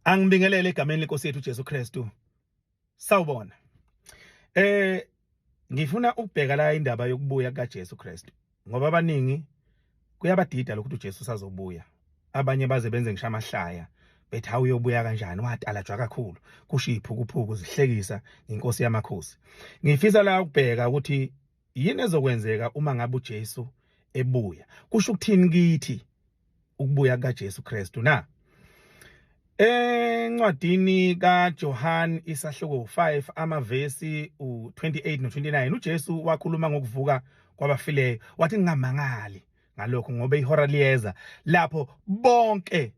angibingelele egameni lenkosi yethu Jesu Kristu sawubona eh ngifuna ukubheka la indaba yokubuya kukaJesu Kristu ngoba abaningi kuyabadida lokho ukuthi uJesu sazobuya abanye baze benze ngisho amahlaya bethi hawu uyobuya kanjani watalajwa kakhulu kushiphu kuphuku zihlekisa inkosi yamakhosi ngifisa la ukubheka ukuthi yini ezokwenzeka uma ngabe uJesu ebuya kusho ukuthini kithi ukubuya kaJesu Kristu na encwadini kaJohn isahluko 5 amavesi u28 no29 uJesu wakhuluma ngokuvuka kwabafileyo wathi ngingamangali ngalokho ngoba ihora liyeza lapho bonke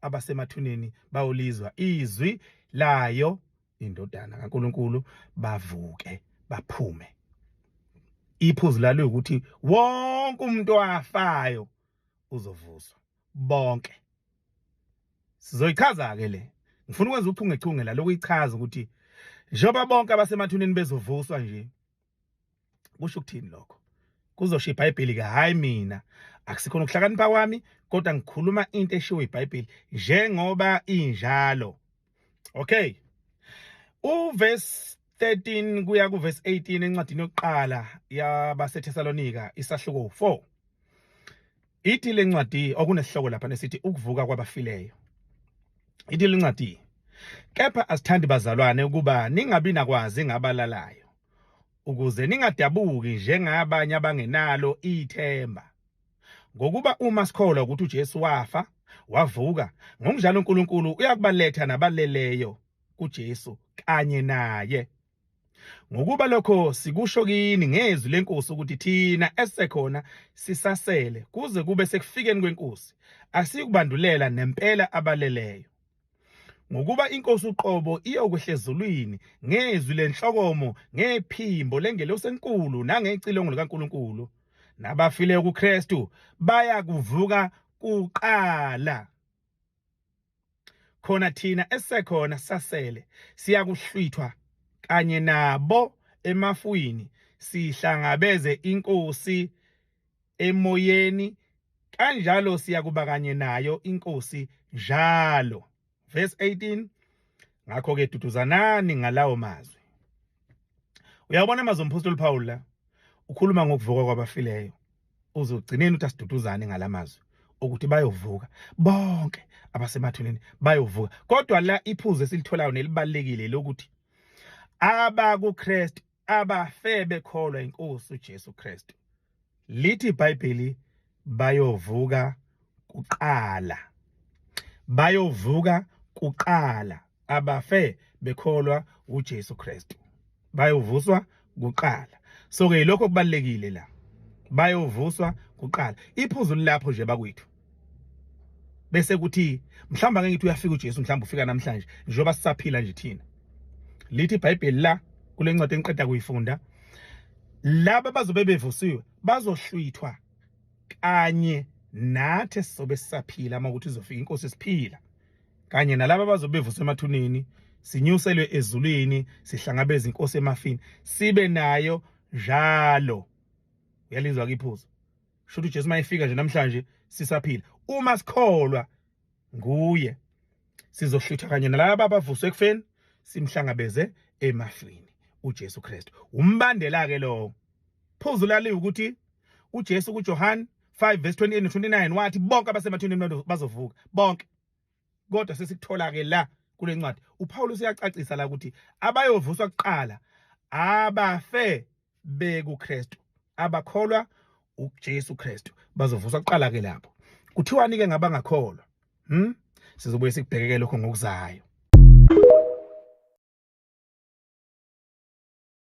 abasemathuneni bawulizwa izwi layo indodana kaNkuluNkulu bavuke baphume iphuzu lalo ukuthi wonke umuntu wafayo uzovuswa bonke sizoyichaza ke le ngifuna ukwenza uchungechunge la lokuyichaza ukuthi njengoba bonke abasemathuneni bezovuswa nje kusho ukuthini lokho kuzosho ibhayibheli ke hhayi mina akusikhona ukuhlakanipha kwami kodwa ngikhuluma into eshiwo ibhayibheli njengoba injalo okay uvesi 13 kuya kuvesi 18 encwadini yokuqala yabaseThesalonika isahluko 4 Ithi le ncwadi okunesihloko lapha nesithi ukuvuka kwabafileyo. Ithi le ncwadi kepha asithandi bazalwane ukuba ningabi nakwazi ngabalalayo ukuze ningadabuki njengabanye abangenalo ithemba. Ngokuba uma sikholwa ukuthi uJesu wafa, wavuka, ngokunjalo uNkulunkulu uyakubaletha nabaleleyo kuJesu kanye naye Ngokuba lokho sikusho kini ngezwi lenkosi ukuthi thina esekhona sisasele kuze kube sekufikeni kwenkosi asiyikubandulela nempela abaleleyo. Ngokuba inkosi uqobo iyokwehlezulwini ngezwi lenhlokomo ngephimbo lengelosi enkulu nangecilongo likaNkuluNkulu nabafile kuKristu bayakuvuka kuqala. khona thina esekhona sasele siyakuhlwithwa kanye nabo emafwini sihlangabeze inkosi emoyeni kanjalo siyakuba kanye nayo inkosi njalo verse 18 ngakho ke duduzanani ngalawo mazwi uyabona amazwi omphostoli Paul la ukhuluma ngokuvuka kwabafileyo uzogcineni uthi asiduduzane ngalamazwi ukuthi bayovuka bonke abasemathuneni bayovuka kodwa la iphuzu esilitholayo nelibalekile lokuthi abakuKristu abafe bekholwa inkosi uJesu Kristu lithi iBhayibheli bayovuka kuqala bayovuka kuqala abafe bekholwa uJesu Kristu bayovuswa kuqala so ke lokho kubalekile la bayovuswa kuqala iphuzu lilapho nje bakwethu bese kuthi mhlawumbe ngeke ngithi uyafika uJesu mhlawumbe ufika namhlanje njengoba sisaphila nje thina lithi iBhayibheli la kule ncwadi engiqeda kuyifunda laba bazobe bevusiwe bazohlwithwa kanye nathi sizobe sisaphila uma ukuthi izofika inkosi siphila kanye nalabo abazobe bevuswa emathuneni sinyuselwe ezulwini sihlangabeza inkosi emafini sibe nayo njalo uyalizwa ke iphuzu sho ukuthi uJesu mayefika nje namhlanje sisaphila uma sikholwa nguye sizohlutha kanye nalabo abavuswe ekufeni simhlangabeze emafini uJesu Kristu umbandela ke lowo phuzu lali ukuthi uJesu kuJohane 5 verse 28 no 29 wathi bonke abasemathuneni bazovuka bonke kodwa sesikuthola ke la kule ncwadi uPawulu siyacacisa la ukuthi abayovuswa kuqala abafe bekuKristu abakholwa uJesu Kristu bazovuswa kuqala ke lapho kuthiwani ke ngabangakholwa hm sizobuye sikubhekeke lokho ngokuzayo